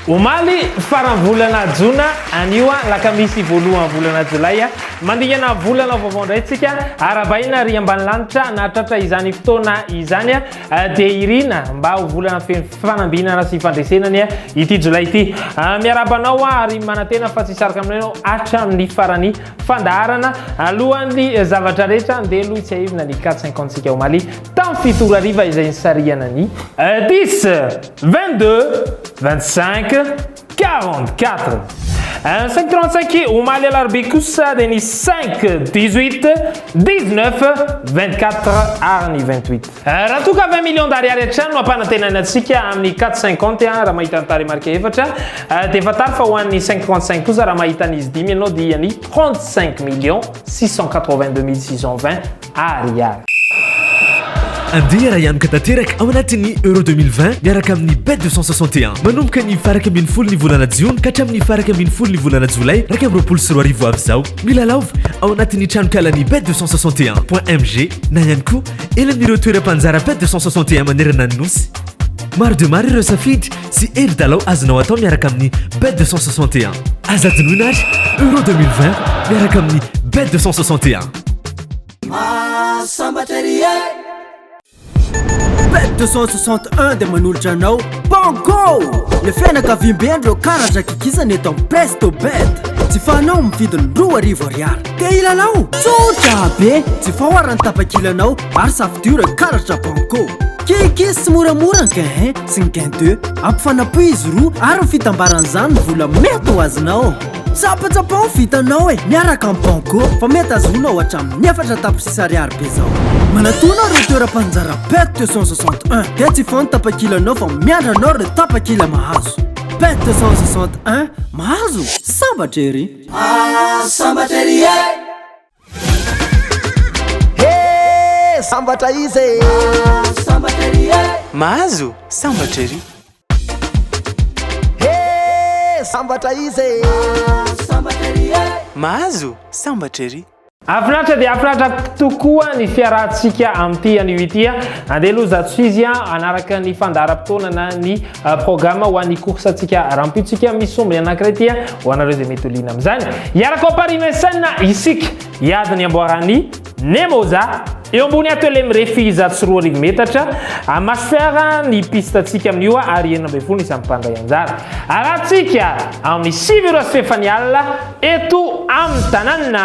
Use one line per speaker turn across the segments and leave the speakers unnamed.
Omaly faran'ny volana jona anio an, lakamisy voalohan'ny volana jolay an, mandingana volana vaovao indray tsika, arabahina ry ambany lanitra nahatratra izany fotoana izany an, Dia irina mba ho volana feno fanambinana sy fandresena anie ity jolay ity. Miarahaba anao ary manantena fa tsy hisaroka aminao ianao hatramin'ny faran'ny fandaharana. Alohan'ny zavatra rehetra, andeha aloha hitsiahivina ny quatre cinquante-tsika omaly tamin'ny fito ora hariva izay nisarihana ny. Dix, vingt-deux, vingt-cinq, Quarante quatre. Un cinq trente cinq omaly alarobia kosa dia ny cinq dix huit dix neuf vingt quatre ary ny vingt huit. Eh, raha toa ka vingt millions d'ariary hatrany no ampanantenana antsika amin'ny quatre cinquante eh, raha mahita ny tarehimarika efatra eh, dia fantaro fa ho an'ny cinq trente cinq kosa raha mahita an'izy dimy ianao dia ny trente cinq millions six cent quatre vingt deux mille six cent vingt Ary ary.
Andeha arahianoka tanteraka ao anatin'ny Euro 2020 miaraka amin'ny Bet 261. Manomboka ny farak ambin'ny folo ny volana jiona ka hatramin'ny farak ambin'ny folo ny volana jolay iraika amby roapolo sy roa arivo avy izao. Milalaova ao anatin'ny tranonkalan'ny Bet 261 point MG na ihany koa eny amin'ireo toeram-panjara Bet 261 manerana ny Nosy. Maro dia maro ireo safidy Tsy hevi-dalao azonao atao miaraka amin'ny Bet 261. Aza adinoina ary Euro 2020 miaraka amin'ny Bet 261. Mahasambatra ery
e! Bet 261 dia manolotra anao Banco! Le fianakaviambe ndreo karatra kikisana eto amin'ny Presto Bet. Jifanao amin'ny vidiny roa arivo ariary. Te hilalao? Tsotra be! Jifao aran'ny tapakilanao ary safidio ireo karatra Banco. Kikis moramora ange hein! Tsy ny gain de ampifanapohy izy roa ary ny fitambaran'izany ny vola mety ho azonao. Tsapatsapao ny vitanao e! Miaraka amin'ny Banco fa mety azonao hatramin'ny efatra tapitrisa ariary be izao. Manatòna ireo toeram-paninjara Pet 261 dia tsy foana ny tapakilanao fa miandry anao ireo tapakila mahazo. Pet 261, mahazo? Sambatra ery! Sambatra
ery e! Sambatra izy e Sambatra ery e Mahazo
sambatra ery He sambatra izy e
Sambatra ery e Mahazo
sambatra ery Afinaritra dia afinaritra
tokoa ny fiarahantsika amin'ity anio ity. Andeha aloha zato sizy hanaraka ny fandaharam-potoanana ny euh, programme ho an'ny course antsika rampitsika misy sombiny anankiray ity ho anareo izay mety holiana amin'izany hiaraka ao Paris Vincennes isika hiady ny amboaran'ny Nemoza eo ambony atelier mirefy zato sy roa arivo metatra amasera ny piste antsika amin'io ary enina ambin'ny folo ny samy mpandray anjara arantsika amin'ny sivy ora sy fefany alina eto amin'ny tanàna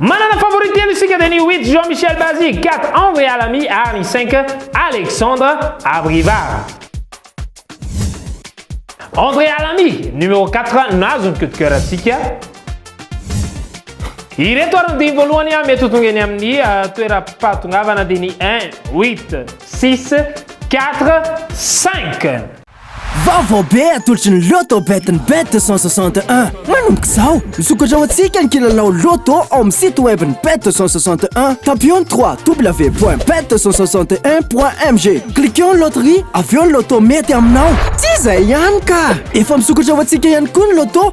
Manana favori telo isika dia ny Witz Jean Michel Bazy, Gat André Alami ary ny Cinq Alexandre Abrivard. André Alami, numéro 4, nahazo ny coup de cœur antsika. Ireto ary ny dimy voalohany ah, mety ho tonga eny amin'ny ah, toeram-pahatongavana dia ny 1, 8, 6, 4, 5. Vaovao
be atolotry ny Lotto BetN'Bet 261. Manomboka izao, misokatra ho antsika ny kilalao Lotto ao amin'ny site web ny Bet 261, tapons ny www.bet261.mg. Cliquons Loterie, avy eo ny Lotto mety aminao. Tsy izay ihany ka! Efa misokatra ho antsika ihany koa ny Lotto.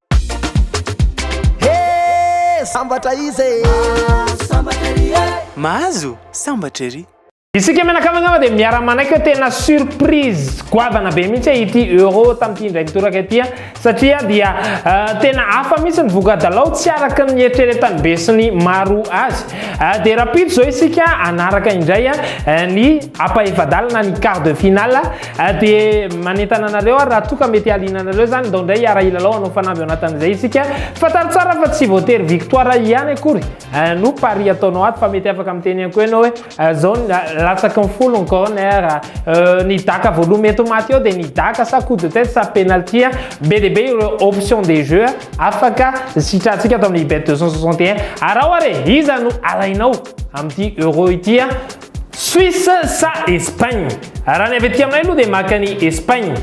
Hee
sambatra izy
e! Mahazo
sambatra ery e!
Mahazo
sambatra
ery!
Isika mianakavy angamba dia miara-manaiky hoe tena surprise goavana be mihitsy e ity Euro tamin'ity indray mitoraka ity satria dia tena hafa mihitsy ny voka-dalao tsy araka ny nieritreretan'ny be sy ny maro azy. Dia rahampitso izao isika hanaraka indray ny Apa efa-dalana ny quart de finale dia manentana anareo ary raha toa ka mety hahaliana anareo izany ndao indray hiara hilalao hanao fanamby ao anatin'izay isika. Fantaro tsara fa tsy voatery victoire ihany akory no pari ataonao ato fa mety afaka miteny ihany koa ianao hoe izao ny latsaky ny folo ny corner, ny daka voaloha mety ho maty eo dia ny daka sa coup de tête sa penalty. Be dia be ireo options de jeu afaka sitrantsika ato amin'ny bet 261. Araho ary e! Iza no alainao amin'ity euro ity? Suisse sa Espagne? Raha ny avy aty aminay aloha dia maka an'i Espagne.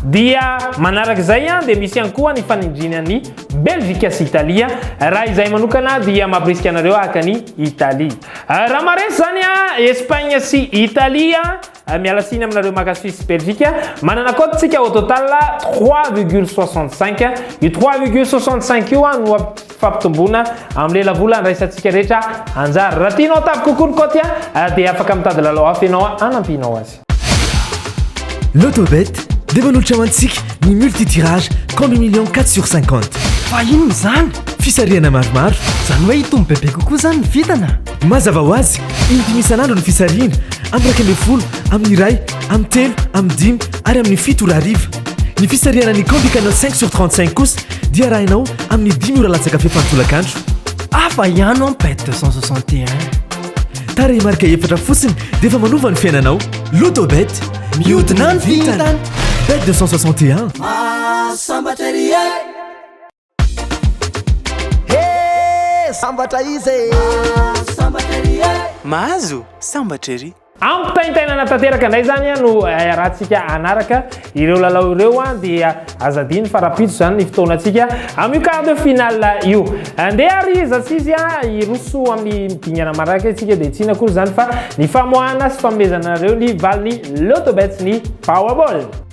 Dia manaraka izay dia misy ihany koa ny fanindriana an'i Belgique sy Italia. Raha izahay manokana dia mampirisika anareo haka an'i Italie. Raha maharesy izany Espagne sy Italie, miala tsiny aminareo maka Suisse sy Belgique. Manana cote tsika au total 3,65. Io 3,65 io no fampitomboana amin'ny lelavola andraisantsika rehetra anjara. Raha tianao hatavy kokoa ny kaoty dia afaka mitady lalao hafa ianao hanampianao azy. Lotobet
dia manolotra ho antsika ny multi-tirage Combi Millions quatre sur cinquante. Fa inona
izany? Fisarihana maromaro.
Izany hoe hitombo bebe
kokoa izany ny vintana? Mazava ho azy,
indimy isan'andro ny fisarihina, amin'ny iraika ambin'ny folo, amin'ny iray, amin'ny telo, amin'ny dimy ary amin'ny fito ora hariva. Ny fisarihana ny Candy Canal 5 sur 35 kosa dia arahinao amin'ny dimy ora latsaka fepy an-tolakandro. Hafa
ihany ho'a Pet 261.
Tarehimarika efatra fotsiny dia efa manova ny fiainanao. Lotobet, mihodina ny vintana! Bet 261. Mahasambatra
ery e! Hee sambatra izy e! Mahazo sambatra ery e! Mahazo
sambatra ery! Ampitaintainana
tanteraka indray izany ah, no iarahantsika eh, hanaraka ireo lalao ireo ah, dia aza adino fa rapitso izany ny fotoanantsika amin'io quart de finale io. Andeha ary iza sy izy ah, hiroso amin'ny dingana maraka isika dia tsy akory izany fa ny famoahana sy fanomezana anareo ny valin'ny Lotobets ny Powerball.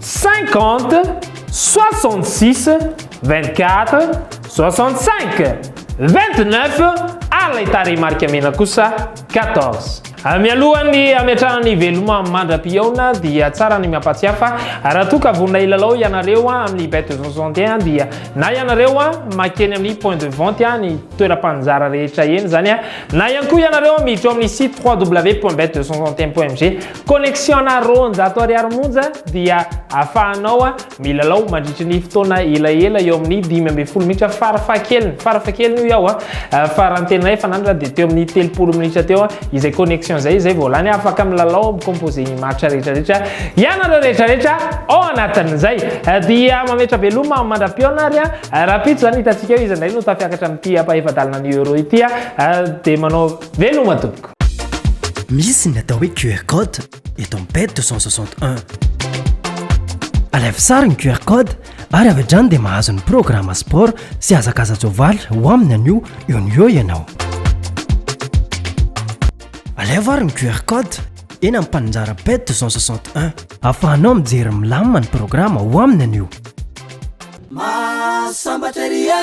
Cinquante, soixante six, vingt quatre, soixante cinq, vingt neuf ary ilay tarehimarika mena kosa quatorze. Mialohan'ny hametrahana ny veloma mandra-pihaona dia tsara ny miampatsiahy fa raha toa ka vonona hilalao ianareo amin'ny Bet soixante et un dia na ianareo makeny amin'ny point de vente any toeram-panjara rehetra eny izany na ihany koa ianareo miditra ao amin'ny site www.bet261.mg Connexion-na roanjato ariary monja dia afahanao milalao mandritry ny fotoana elaela eo amin'ny dimy ambin'ny folo minitra farafahakeliny, farafahakeliny hoy aho an, fa raha ny tena efa nandra dia teo amin'ny telopolo minitra teo izay connexion izay, izay vao lany, afaka milalao mi-composer ny maritra rehetra rehetra ianareo rehetra rehetra ao anatin'izay. Dia mametra veloma mandra-pihaona ary an, rahampitso izany hitantsika eo iza indray no tafiakatra amin'ity ampahefa-dalana ny euro ity an, dia manao veloma tompoko. Misy
ny atao hoe QR code eto amin'ny PED 261. Alaivo sary ny QR code ary avy hatrany dia mahazo ny programme sport sy hazakaza-jovaly ho aminy anio eo no eo ianao. Alaivo ary ny QR code eny amin'ny mpaninjara PED 261. Afahanao mijery milamina ny programme ho aminy anio.
Mahasambatra
ery e!